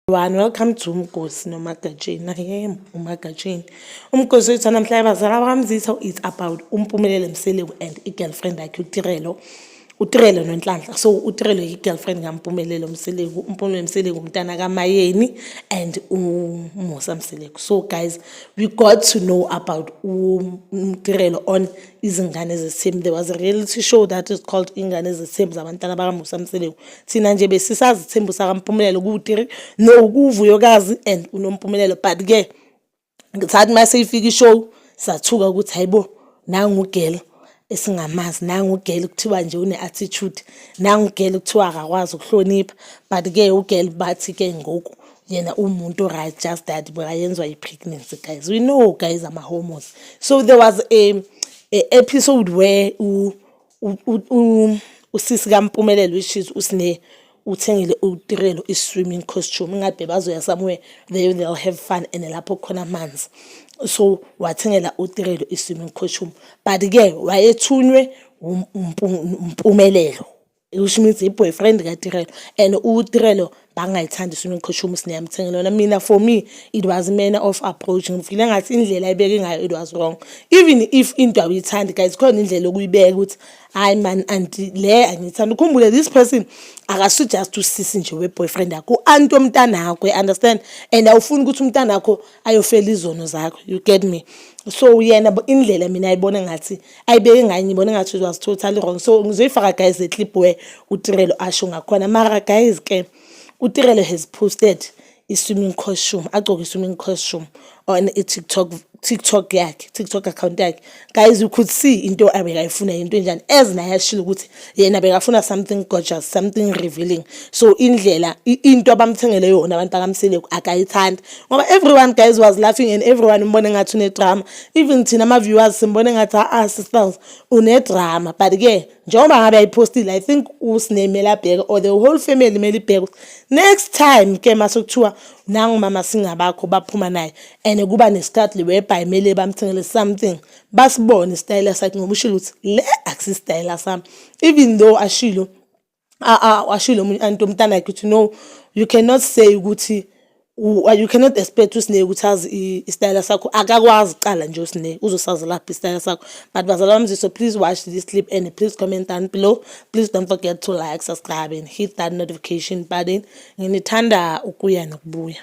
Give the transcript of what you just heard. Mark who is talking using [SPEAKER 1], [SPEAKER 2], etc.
[SPEAKER 1] One, welcome to Umgosi noMagatsheni. I am uMagatsheni. Umgosi wethu namhla abazala bakamzitha it's about uMpumelele Mseleku and i-girlfriend yakhe uTirelo. utirele nonhlanhla so utirele yi-girlfriend kampumelelo mseleku umpumelelo mseleku umntana kamayeni and umusa mseleku so guys we got to know about umtirelo on izingane zesithembu there was a reality show that is called ingane zesithembu zabantana bakamusa mseleku thina nje besisazi ithembu sakampumelelo kuwutiri no kuwuvuyokazi and unompumelelo but ke ngithathi uma seyifika ishow sathuka ukuthi hayibo nangugela esingamazi nangu ugele kuthiwa nje une-attitude nangu ugele kuthiwa akakwazi ukuhlonipha but-ke ugele bathi-ke ngoku yena umuntu right just that buyayenzwa i-pregnancy guys we know guys ama-hormones so there was a, a episode where usisi kampumelelo which is usine uthengile utirelo i-swimming costume ingabe bazoya somewhere they they'll have fun and lapho khona amanzi so wathengela utirelo i-swimming costume but-ke wayethunywe umpumelelo which means i-boyfriend katirelo and utirelo bangayithandi sifuna ukuqhosha umusi niyamthengela wona mina for me it was manner of approach ngifile ngathi indlela ayibeke ngayo it was wrong even if into awuyithandi guys khona indlela okuyibeka ukuthi hayi man anti le angiyithandi ukhumbule this person akasu just usisi nje we-boyfriend yakho u-anti omntana akho you understand and awufuni ukuthi umntana akho ayofela izono zakho you get me so yena indlela mina ayibona ngathi ayibeke ngaye ngibona ngathi was totally wrong so ngizoyifaka guys le clip where utirelo asho ngakhona mara guys ke utirelo has posted i-swimming costume agcoke i-swimming costume on i-tiktok tiktok yakhe tiktok account yakhe guys you could see into abekayifuna yinto enjani as naye ashilo ukuthi yena bekafuna something gorgeous something revealing so indlela into abamthengele yona abantu bakamsile akayithandi ngoba everyone guys was laughing and everyone umbone ngathi unedrama even thina ama-viewers simbone ngathi a-a sisters unedrama but-ke njengoba ngabe ayiphostile i think usine kumele abheke or the whole family kumele ibheke next time ke mase kuthiwa nangumama singabakho baphuma naye and kuba nesikhathi liwebhayi kumele bamthengele something basibone isitayela sakhe ngoba ushilo ukuthi le akusisitayela sami even though ashilo ashilo omunye anti omntana yakhe ukuthi no you cannot say ukuthi you cannot expect usineke ukuthi azi isitayela sakho akakwazi kuqala nje usineke uzosazi lapho isitayela sakho but bazala bami so please watch this clip and please comment down below please don't forget to like subscribe and hit that notification button nginithanda ukuya nokubuya